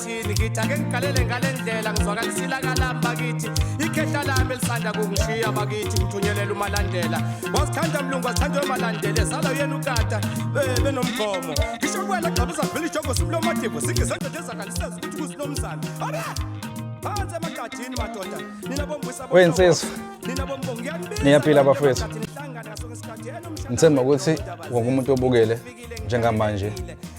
emphakathini ngithi ake ngigalele ngale ndlela ngizwakalisila kalami bakithi ikhehla lami elisanda kungishiya bakithi ngithunyelele umalandela wasithanda mlungu wasithanda umalandela ezala uyena ukata benomgomo ngisho kuwena gxaba uzavela ijogo simlomadivo singe zenzo ndezakaliseza ukuthi kusinomzana ara phansi emagadini madoda nina bombuyisa wensizwa nina bombongo ngiyanibisa niyaphila bafowethu ngithemba ukuthi wonke umuntu obukele njengamanje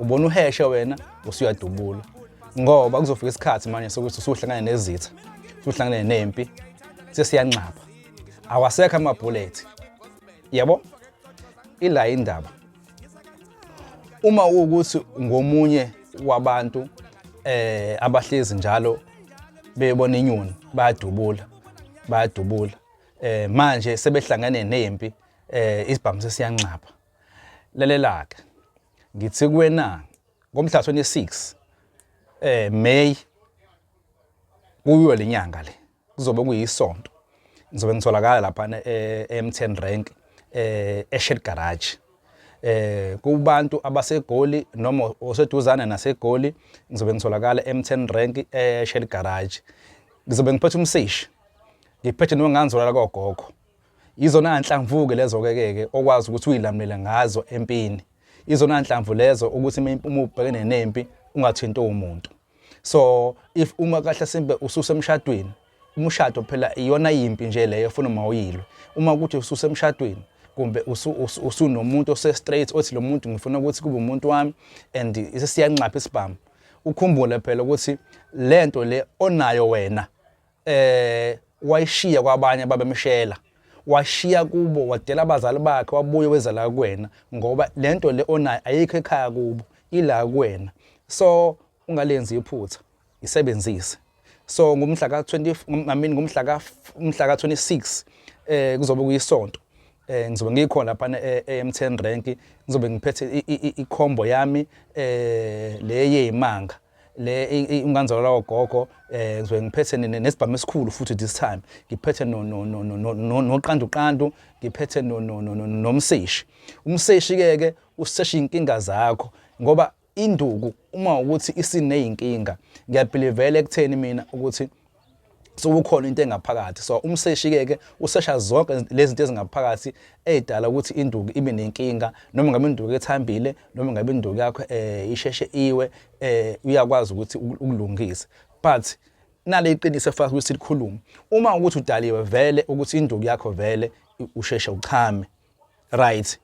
ubona uheshe wena usuyadubula ngoba kuzofika isikhathi manje sokuthi usuhlangane nezitha usuhlangane nempi sesiyanxapha awasekho amabhulethi yabo ila indaba uma ukuthi ngomunye wabantu eh abahlezi njalo bebona inyoni bayadubula bayadubula eh manje sebehlangene nempi eh isibhamu sesiyanxapha lalelaka Ngithi kuwena ngomhla 26 eh May kuyo lenyanga le kuzobe kuyisonto ngizobe ngitholakala lapha eh, eMTN Rank eh eShed Garage eh kubantu abasegoli noma oseduzane nasegoli ngizobe ngitholakala eMTN Rank eShed Garage ngizobe ngiphethe umsishi ngiphethe nonganzolala kogogo Izona nhlamvu-ke lezo-ke ke okwazi ukuthi uyilamulele ngazo empini. Izona nhlamvu lezo ukuthi uma ubhekene nempi ungathinti umuntu. So if uma kahle simbe ususemshadweni, umshado phela iyona yimpi nje leyo efuna uma uyilwe. Uma ukuthi ususemshadweni kumbe usunomuntu ose-straight othi lo muntu ngifuna ukuthi kube umuntu wami and sesiyanxapha isibhamu. Ukhumbule phela ukuthi lento le onayo wena eh wayishiya kwabanye ababemshela washiya kubo wadela abazali bakhe wabuye weza la kuwena ngoba lento le onayo ayikho ekhaya kubo ila kuwena so ungalenzi iphutha isebenzise so ngomhla ka 20 I mean ngomhla ka umhla ka 26 eh kuzobe kuyisonto eh ngizobe ngikhona lapha eM10 rank ngizobe ngiphethe i combo yami eh leye imanga le inganzalo lawo gogo eh ngizwe ngiphethe nesibhamu esikhulu futhi this time ngiphethe no no no no no noqandu qandu ngiphethe no no no nomseshi umseshi ke ke usesha inkinga zakho ngoba induku uma ukuthi isineyinkinga ngiyabhilivela ekutheni mina ukuthi sokukhona into engaphakathi so umseshi ke ke usesha zonke lezi zinto ezingaphakathi ezidala ukuthi induku ibe nenkinga noma ngabe induku ethambile noma ngabe induku yakho eh isheshe iwe eh uyakwazi ukuthi ukulungise but nale iqiniso efaka ukuthi likhulume uma ukuthi udaliwe vele ukuthi induku yakho vele usheshe uchame right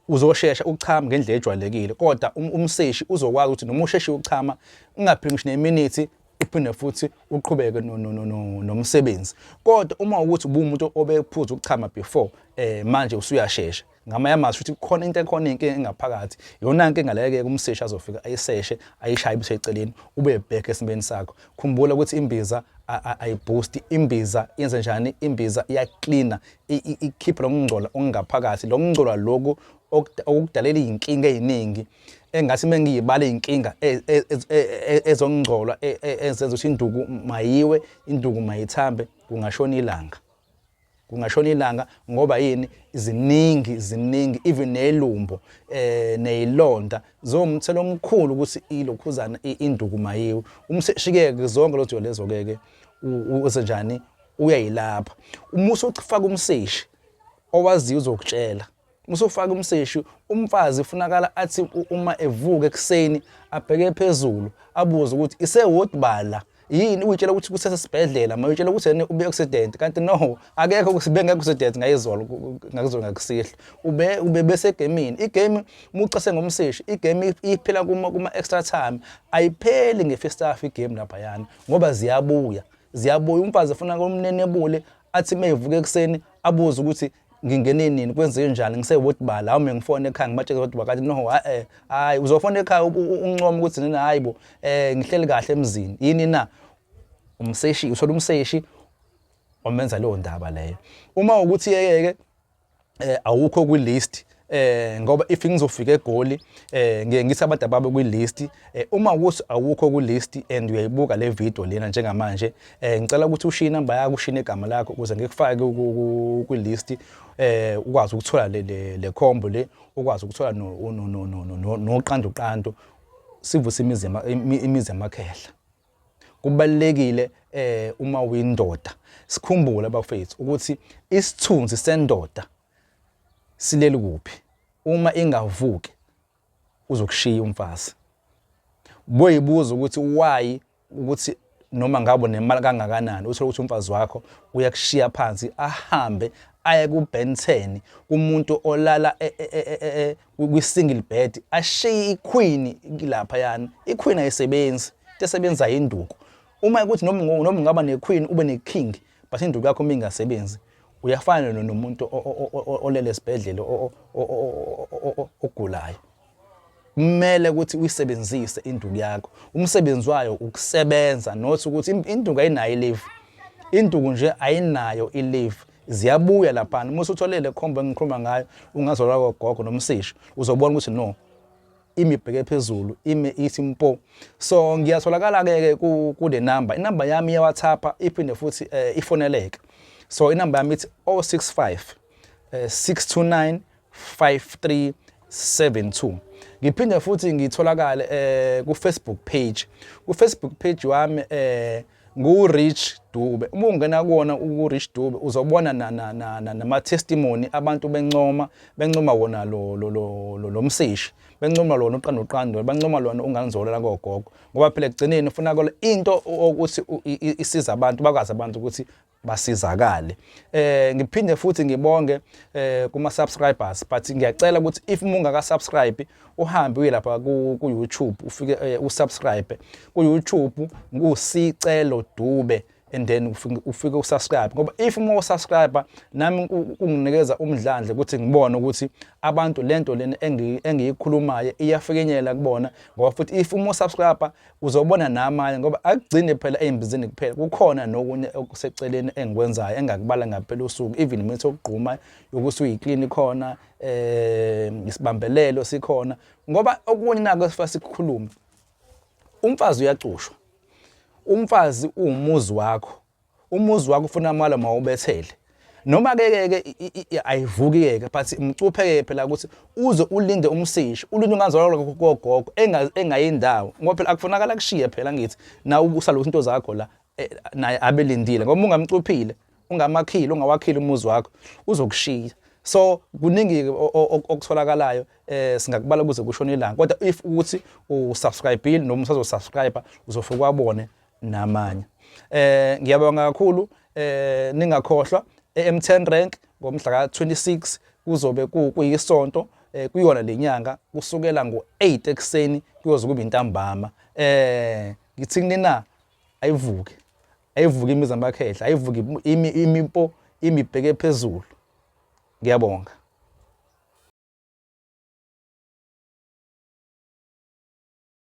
uzoshesha ukuchama ngendlela ejwayelekile kodwa um, umseshi uzokwazi ukuthi noma usheshe ukuchama ungapheli ngisho neminithi uphinde futhi uqhubeke nomsebenzi kodwa uma ukuthi ubumuntu obephuza ukuchama before eh manje usuyashesha ngamanye amazwi ukuthi khona into ekhona inkinga engaphakathi yona nkinga leke kumseshi azofika ayiseshe ayishaye ibusheceleni ube back esimeni sakho khumbula ukuthi imbiza ayiboost imbiza yenze njani imbiza iyacleaner ikhiphe lo mngcola ongaphakathi lo mngcola loku okudalela iy'nkinga ey'ningi engase uma ngiyibala iy'nkinga e, e, e, ezongcolwa ezenza ukuthi induku mayiwe induku mayithambe kungashona ilanga kungashona ilanga ngoba yini ziningi ziningi even nelumbo eh nezilonda zomthelo omkhulu ukuthi ilokhuzana induku mayiwe umshikeke zonke lojo lezo keke usenjani uyayilapha uma usufaka umseshi owaziyo uzokutshela uma usufaka umseshi umfazi ufunakala athi uma evuka ekuseni abheke phezulu abuze ukuthi isewodi bala yini uyitshela ukuthi kusesibhedlela ma uyitshela ukuthi yena ube accident kanti no akekho ukuthi bengekho accident ngayizolo ngakuzolo ngakusihla ube ube bese gamini igame mucase ngomseshi igame iphela kuma kuma extra time ayipheli ngefestaff igame lapha yana ngoba ziyabuya ziyabuya umfazi efuna komnenebule athi uma evuka ekuseni abuze ukuthi ngingene nini kwenzeke njani ngisewoti bala awume ngifone ekhaya ngibatshele ukuthi bakathi no hayi hayi uzofona ekhaya uncoma ukuthi nina hayi bo eh ngihleli kahle emzini yini na umseshi uthola umseshi omenza leyo ndaba leyo uma ukuthi yeyeke eh awukho kwi list eh ngoba if ngizofika egoli eh ngiye ngisa abantu ababe kwi list eh uma ukuthi awukho ku list and uyayibuka le video lena njengamanje eh ngicela ukuthi ushiye number yakho ushine igama lakho ukuze ngikufake kwi list eh ukwazi ukuthola le le combo le ukwazi ukuthola no no no no no no qandu qandu sivuse imizi imizi yamakhehla Kubalulekile eh uma uyindoda sikhumbule abafethu ukuthi isithunzi sendoda sileli kuphi uma ingavuki uzokushiya umfazi boyibuza ukuthi why ukuthi noma ngabo nemali kangakanani uthole ukuthi umfazi wakho uyakushiya phansi ahambe aye kuBentheni kumuntu olala e, e, e, kwi-single bed ashiye iqueen lapha yani iqueen ayisebenzi into esebenzayo induku uma ukuthi noma noma ungaba nequeen ube neking but induku yakho uma ingasebenzi uyafana nomuntu olele esibhedlela ogulayo kumele ukuthi uyisebenzise induku yakho umsebenzi wayo ukusebenza not ukuthi induku ayinayo i-leave induku nje ayinayo i-leave ziyabuya laphana uma usuthole le khombo engikhuluma ngayo ungazola kogogo nomsisho uzobona ukuthi no imibheke phezulu ime ithi mpo so ngiyatholakala ke kule number inamba yami ye WhatsApp iphinde futhi eh, ifoneleka so inamba yami ithi 065 629 5372 ngiphinde futhi ngitholakale eh ku Facebook page ku Facebook page wami eh ngu Rich Dube uma ungena kuona uku Rich Dube uzobona na na na nama testimony abantu bencoma bencoma wona lo lo lo lo msishi bencoma lona uqanda uqando bancoma lona ungangizolela kogogo ngoba phela ekugcineni ufuna into ukuthi isiza abantu bakwazi abantu ukuthi basizakale eh ngiphinde futhi ngibonge eh kuma subscribers but ngiyacela ukuthi if mungaka subscribe uhambe uye lapha ku, ku YouTube ufike eh, usubscribe ku YouTube ngusicelo dube and then ufike usubscribe ngoba if uma usubscribe nami kunginikeza umdlandle ukuthi ngibone ukuthi abantu lento lena engiyikhulumayo iyafikenyela kubona ngoba futhi if uma usubscribe uzobona namanye ngoba akugcini phela ey'mbizini kuphela kukhona nokunye okuseceleni engikwenzayo engakubala ngampela usuku even imithi yokugquma yokuthi uyiklini khona um eh, isibambelelo sikhona ngoba okunye nako esifuna sikukhulume umfazi uyacushwa umfazi uwumuzi wakho Umuzi wakho ufuna amala mawubethele. Noma ke ke ke ayivuki ke ke but umcuphe ke phela ukuthi uze ulinde umsishi ulinde ungazalwa kogogo engayindawo ngoba phela akufunakala kushiye phela ngithi na ukusala ukuthi into zakho la eh, naye abelindile ngoba ungamcuphile ungamakhile ungawakhile umuzi wakho uzokushiya so kuningi okutholakalayo eh singakubala kuze kushone ilanga kodwa if ukuthi usubscribe noma usazosubscribe uzofuka wabone namanye eh ngiyabonga kakhulu eh ningakhohlwa eM10 rank ngomhla ka26 kuzobe kuyisonto eh kuyona lenyanga kusukela ngo8 ekseni kuyoze kube intambama eh ngithi kunina ayivuke ayivuke imizamba yakhehla ayivuke imipo imibheke phezulu ngiyabonga